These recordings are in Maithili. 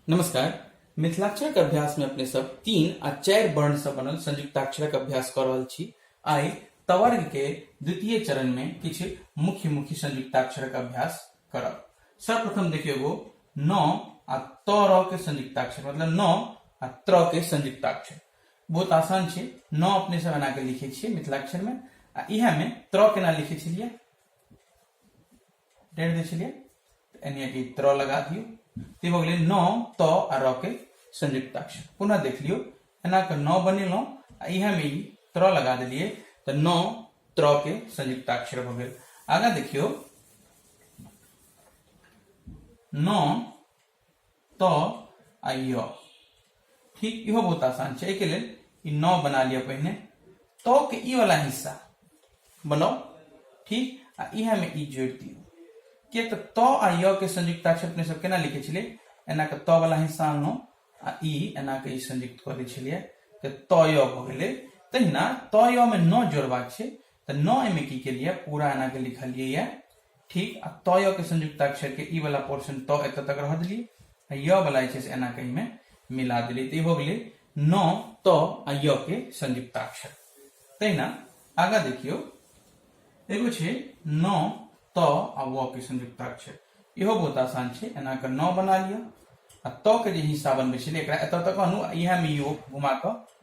नमस्कार मिथिलाक्षरक अभ्यास में अपने सब तीन आ चार वर्ण से बनल संयुक्ताक्षरक अभ्यास कर रहल छी आई तवर्ग के द्वितीय चरण में किछु मुख्य मुख्य संयुक्ताक्षरक अभ्यास करब सर्वप्रथम देखियो एगो न आ त र के संयुक्ताक्षर मतलब न आ त्र के संयुक्ताक्षर बहुत आसान छै न अपने सब एना के लिखे छियै मिथिलाक्षर में आ इहे में त्र केना लिखे छलियै डेढ़ दै छलियै यानी कि त्र लगा दियौ तऽ भऽ गेलै न त आ र के संयुक्ताक्षर पुनः देख लियौ एना कऽ न बनेलहुँ आ इएहमे ई त्र लगा देलियै तऽ न त्र के संयुक्ताक्षर भऽ गेल आगाँ देखियौ न त आ य ठीक इहो बहुत आसान छै एहिके लेल ई नौ बना लिअ पहिने त के ई वाला हिस्सा बनाउ ठीक आ इहे में ई जोड़ि दियौ किए तऽ त आ य के संयुक्तता छै अपने सब केना लिखे छलियै एना के त वाला हिस्सा आनलहुँ आ ई एना के ई संयुक्त कऽ दै छलियै तऽ त य भऽ गेलै तहिना त य में नौ जोड़बाक छै तऽ नौ एहिमे की केलियै पूरा एना के लिखलियै ठीक आ त य के संयुक्ताक्षर के ई वाला पोर्शन त एत तक रह दिली आ य वाला जे छै एना कहीं में मिला दिली तो हो गई न त आ य के संयुक्ताक्षर तहिना आगा देखियो एगो छै न त आ व के संयुक्ताक्षर इहो बहुत आसान छै एना के न बना लियो आ त के जे हिस्सा बनबे छलै एकरा एत तक अनु इहा में यो घुमा क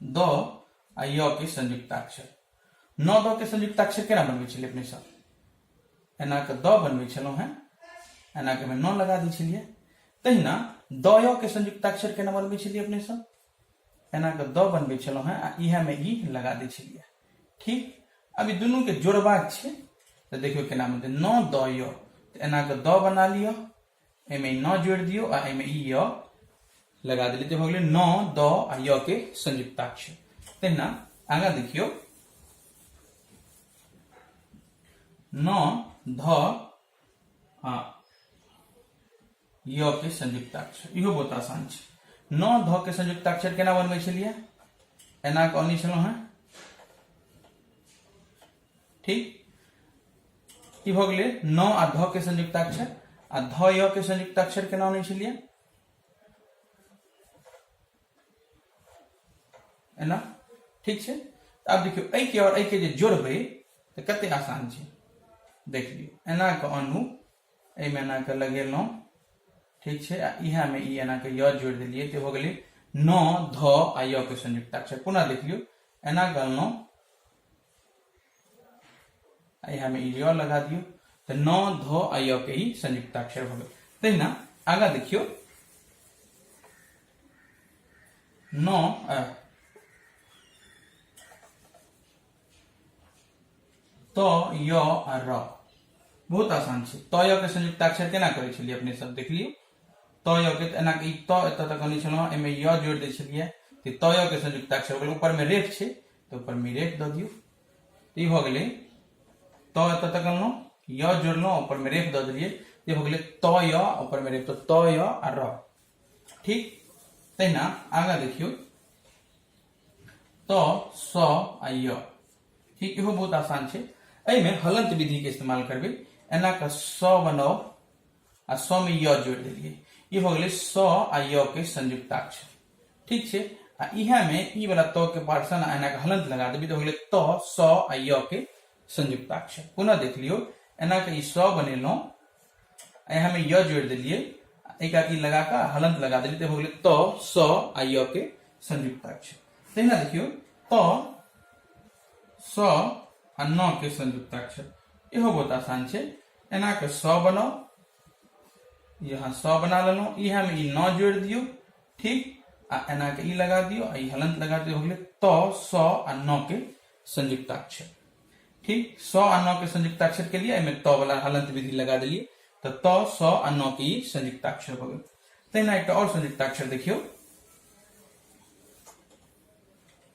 द आ य के संयुक्ताक्षर न द के संयुक्ताक्षर केना बनबै छलियै अपने सब एना के द बनबै छलहुँ हेँ एना के न लगा दै छलियै तहिना द य के संयुक्ताक्षर केना बनबै छलियै अपने सब एना के द बनबै छलहुँ हेँ आ इएह में ई लगा दै छलियै ठीक अभी दुनू के जोड़बाक छै तऽ देखियौ केना बनतै न द य तऽ एना के द बना लिअ एमे न जोड़ दियो आ एमे ई य लगा दिले तो भगले न द आ य के संयुक्ताक्ष तेना आगा देखियो न ध आ य के संयुक्ताक्षर इहो बहुत आसान छै न ध के संयुक्ताक्षर केना बनबै छलियै एना कहने छलहुँ हेँ ठीक ई भऽ गेलै न आ ध के संयुक्ताक्षर आ ध य के संयुक्ताक्षर केना अनै छलियै एना ठीक छै आब देखियौ एहि के और एहि के जे जोड़बै तऽ कते आसान छै देख लियौ एना के अनु एहिमे एना के लगेलहुँ ठीक छै आ इहे में ई एना के य जोड़ि देलियै तऽ भऽ गेलै न ध आ य के संयुक्ताक्षर पुनः देख लियौ एना के अनलहुँ आई हमें ई य लगा दियो तो न ध आ य के ई संयुक्ताक्षर हो गए तहिना आगा देखियो न अ त य आ र बहुत आसान छै त य के संयुक्ताक्षर केना करै छलियै अपने सब देखलियै त य के एना ई त एतऽ तक अनै छलहुँ एहिमे य जोड़ि दै छलियै तऽ त य के संयुक्ताक्षर हो गेल ऊपरमे रेफ छै तो ऊपर मिरेट दऽ दियौ ई भऽ गेलै त एतऽ तक अनलहुँ य जोड़लहुँ ऊपर मे रेफ दऽ देलियै ई भऽ गेलै त य ऊपर मे रेफ तऽ त य आ र ठीक तहिना आगाँ देखियौ त स आ य ठीक इहो बहुत आसान छै एहिमे हलंत विधिके इस्तेमाल करबै एना कऽ स बनाउ आ स में य जोड़ दिलिए ये हो गए स आ य के संयुक्ताक्षर ठीक है आ इहा में ई वाला त के पार्सन आ एना के हलंत लगा देबी तो हो गए त स आ य के संयुक्ताक्षर पुनः देख लियो एना के ई स बनेलो यहाँ में य जोड़ दिलिए एक आकी लगा का हलंत लगा दिली तो हो गए त स आ य के संयुक्ताक्षर तहिना देखियो त स आ न के संयुक्ताक्षर इहो बहुत आसान छै एना के सौ बनाओ यहाँ सौ बना लेलो इह में ई नौ जोड़ दियो ठीक आ एना के ई लगा दियो आ ई हलंत लगा दियो हो गेले तो सौ आ नौ के संयुक्ताक्षर ठीक सौ आ नौ के संयुक्ताक्षर के लिए एमें तो वाला हलंत विधि लगा दिलिए तो तो सौ आ नौ के ई संयुक्ताक्षर हो गए तेना एक और संयुक्ताक्षर देखियो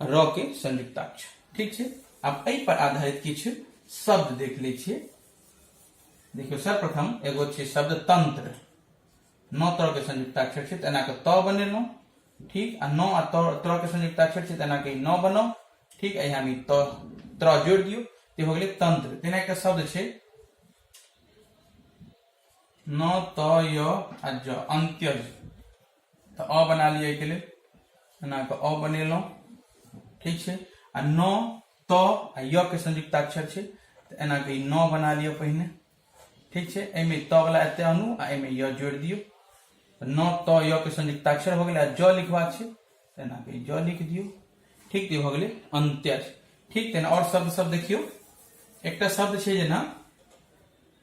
र के संयुक्ताक्षर ठीक छै आब एहि पर आधारित किछु शब्द देख लै छियै देखियौ सर्वप्रथम एगो छै शब्द तंत्र नौ तरह के संयुक्ताक्षर छै तेना के त बनेलहुँ ठीक आ नौ आ तरह के संयुक्ताक्षर छै तेना के नौ बनाउ ठीक है यहाँ भी त त्र जोड़ दियो ते हो गए तंत्र तेना के शब्द छै न त य आ ज अंत्यज तऽ अ बना लिअ एहिके लेल एना कऽ अ बनेलहुँ ठीक छै आ न त आ य के संयुक्त अक्षर छै तऽ एना कऽ ई न बना लिअ पहिने ठीक छै एहिमे त वला एते अनु आ एहिमे य जोड़ि दियौ तऽ न त य के संयुक्त अक्षर भऽ गेलै आ ज लिखबाक छै तऽ एना कऽ ई ज लिख दियौ ठीक तऽ ई भऽ गेलै अन्त्य ठीक तहन आओर शब्द सब देखियौ एकटा शब्द छै जेना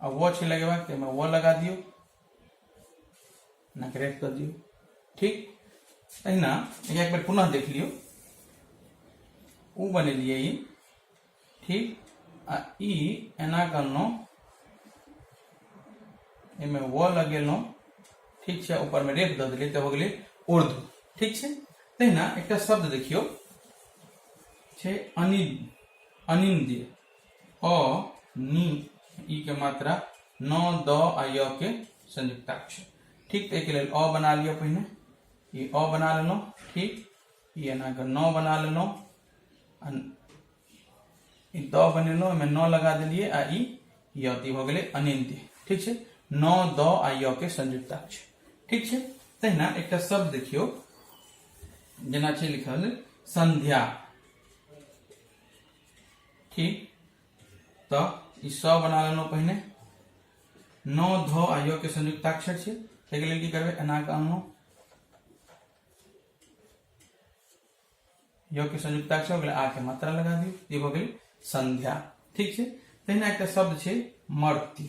आ वह छे लगेबा तो में वह लगा दियो ना रेफ कर दियो ठीक अहिना एक बार पुनः देख लियो उ बने लिए ई ठीक आ ई एना करनो एमे व लगेलो ठीक छे ऊपर में रेफ द दिले तो हो गेले उर्दू ठीक छे तहिना एकटा शब्द देखियो छे अनिल अनिंद्य अ नि ई के मात्रा न द आ य के संयुक्ताक्ष ठीक तो एक लेल अ बना लियो पहिने ई अ बना लेलहुँ ठीक ई एना के न बना लेलहुँ आ ई द बनेलहुँ एहिमे न लगा देलियै आ ई य तऽ ई भऽ गेलै अनिंद्य ठीक छै न द आ य के संयुक्ताक्ष ठीक छै तहिना एकटा शब्द देखियौ जेना छै लिखल संध्या ठीक तो ई सौ बना लेलहुँ पहिने नौ धो आ योग के संयुक्ताक्षर छै ताहिके लेल की करबै एना कऽ अनलहुँ योग के संयुक्ताक्षर हो गेलै आ के मात्रा लगा दियौ ई भऽ गेल संध्या ठीक छै तहिना एकटा शब्द छै मर्त्य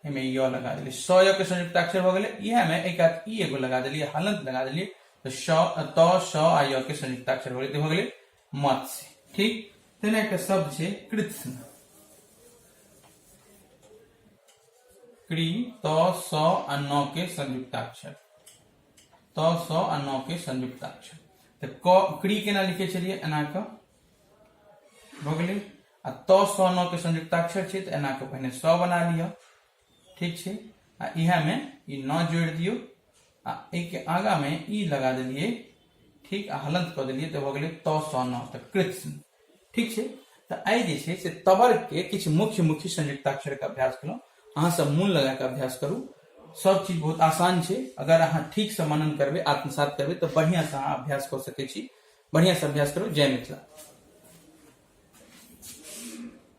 एहिमे य लगा देलियै स य के संयुक्त अक्षर भऽ गेलै इएह मे एक आध ई एगो लगा देलियै हलंत लगा देलियै तऽ श त श आ य के संयुक्त अक्षर भऽ गेलै भऽ गेलै मत्स्य ठीक तेना एकटा शब्द छै कृत्स्न कृ त स आ न के संयुक्त अक्षर त स आ न के संयुक्त अक्षर तऽ क कृ केना लिखै छलियै एना कऽ भऽ गेलै आ त स न के संयुक्ताक्षर छै तऽ एना के पहिने स बना लिअ ठीक छै आ इहे में ई न जोड़ दियो आ ए के आगा में ई लगा देलिए ठीक आ हलंत क देलिए तऽ भ गेलै त स न तऽ कृत्स्न ठीक छै तऽ आइ जे छै से तबर के किछु मुख्य मुख्य संयुक्ताक्षर के अभ्यास केलहुँ अहाँ सब मोन लगा के अभ्यास करू सब चीज बहुत आसान छै अगर अहाँ ठीक से मनन करबै आत्मसात करबै तऽ बढ़िया से अहाँ अभ्यास कऽ सकै छी बढ़िया से अभ्यास करू जय मिथिला